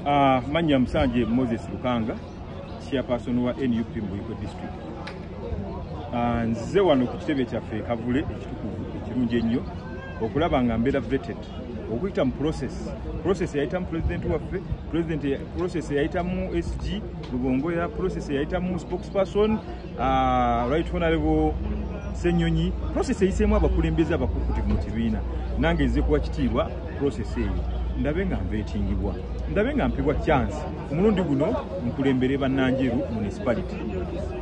Uh, manya musanje moses lukanga chairperson wa nup mbuiko district uh, nzize wano ku kitebe kyaffe ekavule ekitukuvu ekirungi ennyo okulaba nga mbeera vetted okuyita mu process process eyayitamu president waffe president process eyayitamu sg lubongoya process eyayitamu spokesperson Ah, right honorable senyonyi process eyiseemu abakulembeze abakukutivu mu kibiina nange nze kuwa kitiibwa process eyo ndabe nga mbetingibwa ndabe nga mpibwa chance omulundi guno nkulembere bannanjeru municipality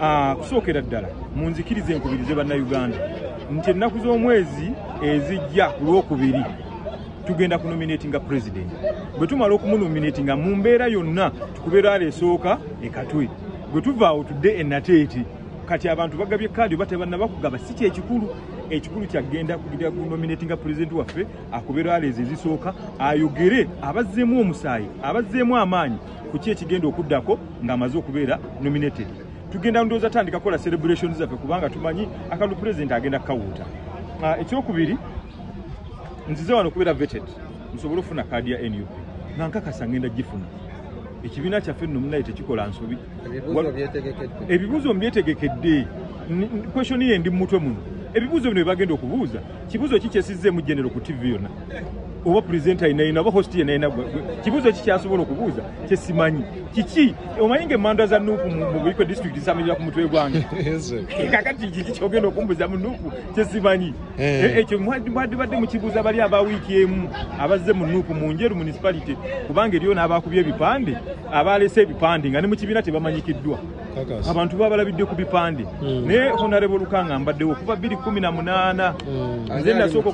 ah, kusookera ddala munzikiriza enkubirize bannayuganda nti ennaku z'omwezi ezijja ku lwokubiri tugenda kunominatinga president bwe tumala okumunominatinga mu mbeera yonna tukubeera aleesooka ekatwe bwe tuva awo tudde e nateete kati abantu bagabye kaadi oba tebannaba kugaba si kyekikulu ekikulu kyagenda kugira gunominati nga pulezidenti waffe akubeera aleezi ezisooka ayogere abazzeemu omusaayi abazzeemu amaanyi ku ki ekigenda okuddako ng'amaze okubeera nominated tugenda ndowooza tandika kukola celebration zaffe kubanga tumanyi akalulu pulezidenti agenda kukawuuta ah, ekyokubiri nzize wano kubeera vetted nsobole okufuna kaadi ya nup nga nkakasa ngenda gifuna ekibiina kyaffe nno munaye tekikola nsobi ebibuuzo mbyetegekedde kweshoni ye ndi mumutwe muno ebibuuzo bino byebagenda okubuuza kibuuzo ki kyesizzeemu genero ku tv yonna oba purezenta yenayina oba hosti yenayina kibuuzo ki kyasobola okubuuza kyesimanyi kiki omanyi nga emanda za nuupu mu buiko disitulikiti zamenyera ku mutwe gwange kakati kiki kyogenda okumbuza mu nuupu kyesimanyi Eh. Eh, ekyo mwadibadde mukibuuza bali aba wiiki emu abazze mu nuupu mu njeru municipality kubanga eriyo n'abaakubya ebipande abaalese ebipande nga ne mu kibiina tebamanyikiddwa abantu babalabidde ku bipande hmm. naye honarebo lukanga mbaddewo okuva bbiri kumi na munaana hmm. nze nasooka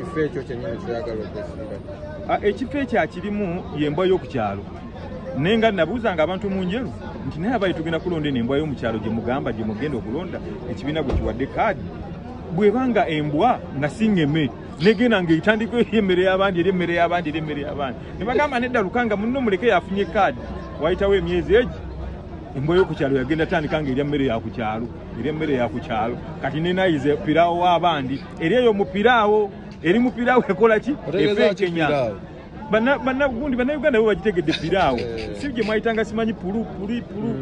ah, ekifo ekyo akirimu yembwa y'oku kyalo naye nga nabuuzanga abantu mu njeru nti naye abaye tugenda kulonda eno embwa y'omu kyalo gye mugamba gye mugenda okulonda ekibiina gwe kiwadde kaadi bweba nga embwa nga singeme negenda nga etandika emmere y'abandi eri emmere y'abandi eri emmere y'abandi ne bagamba nedda lukanga munno muleke yafunye kaadi wayitawo emyezi egi embwa yokukyalo yagenda tandika nga erya mmere yakukyalo erya mmere yakukyalo kati nenayize piraawo w'abandi eri eyo mupiraawo eri mupiraawo ekola ki efeekenya banagundi banauganda bo bagitegedde piraawo eh. si gye mwayitanga simanyi pulu puli pulu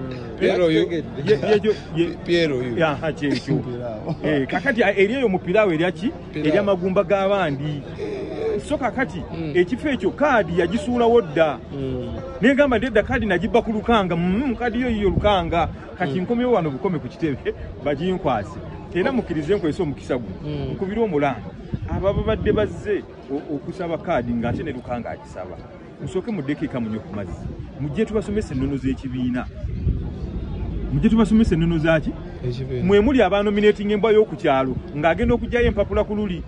kyekyo kakati eri eyo mupiraawo eryaki eryamagumba g'abandi so kakati hmm. ekifo ekyo kaadi yagisuulawo dda hmm. negamba ndedda kaadi nagibba ku lukanga hmm, kaadi yo yiyo lukanga kati nkomyewo wano bukome ku kitebe baginkwase era mukirize nkwese omukisa guno nkubire omulanga abababadde bazze okusaba kaadi ng'ate ne luka ng'agisaba musooke muddeko eka munyo ku mazzi mujje tubasomesa ennono z'ekibiina mujje tubasomesa ennono zaki mwe muli abanominating embwa y'oku kyalo ng'agenda okugyayo empapula ku luli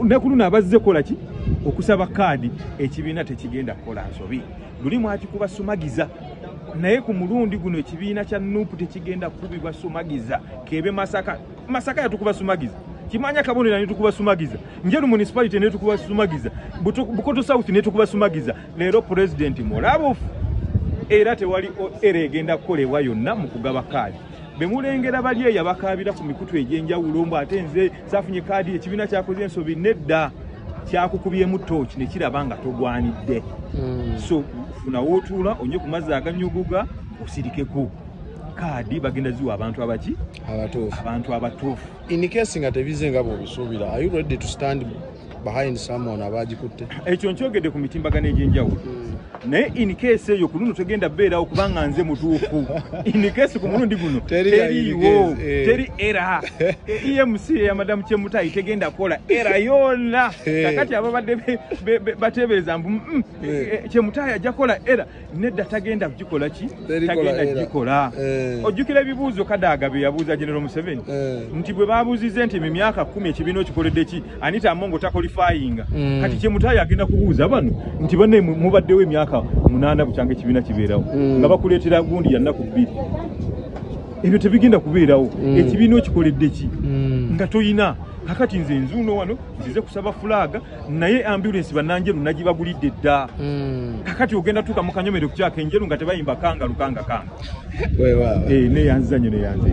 ne ku luno abazze kola ki okusaba kaadi ekibiina tekigenda kukola nsobi luli mwakikuba sumagiza naye ku mulundi guno ekibiina kya nupu tekigenda kukubibwa sumagiza kebe masaka masaka yatukuba sumagiza kimanya kabonera netukuba sumagiza njeru municipality netukuba sumagiza bukoto south netukuba sumagiza leero president mulabufu era tewali era egenda kukolebwa yonna mu kugaba kaadi bemulengera bali eyo abakaabira ku mikutu egy'enjawulo mbu ate nze saafunye kaadi ekibiina kyakoze ensobi nedda kyakukubyemu tooki ne kiraba nga togwanidde hmm. so funawo otuula onye ku mazzi aganyuguga osirikeko kaadi bagenda ziwa abantu abaki abatuufu abantu abatuufu in case nga tebize nga bwobisuubira are you ready to stand behind someone abagikutte ekyo nkyogedde ku mitimbagano egy'enjawulo hmm. naye in case eyo ku luno tegenda beerawo kubanga nze mutuufu in case ku mulundi guno teriiwo eh. teri era emc eya madamu kyemutayi tegenda kukola era yonna eh. kakati ababadde bateebereza mbu mm, mm, eh. kyemutayi ajja kukola era nedda tagenda kugikola ki tagenda kugikola eh. ojjukira ebibuuzo kadaaga bye yabuuza genero museveni eh. nti bwe babuuzize nti mu myaka kumi ekibiina okikoledde ki anita amongo takolifayinga hmm. kati kyemutayo agenda kubuuza bano nti bane mubaddewo emyaka munaana bukyanga ekibiina kibeerawo hmm. nga bakuleetera gundi yannaku bbiri ebyo tebigenda kubeerawo hmm. ekibiina okikoledde ki nga toyina kakati nze nzuuno wano nzize kusaba fulaaga naye ambulance bananjeru nagibagulidde dda hmm. kakati ogenda tuuka mu kanyomero kukyaka enjeru nga tebayimba kanga lukanga kanga eh, neyanzanyo neyanze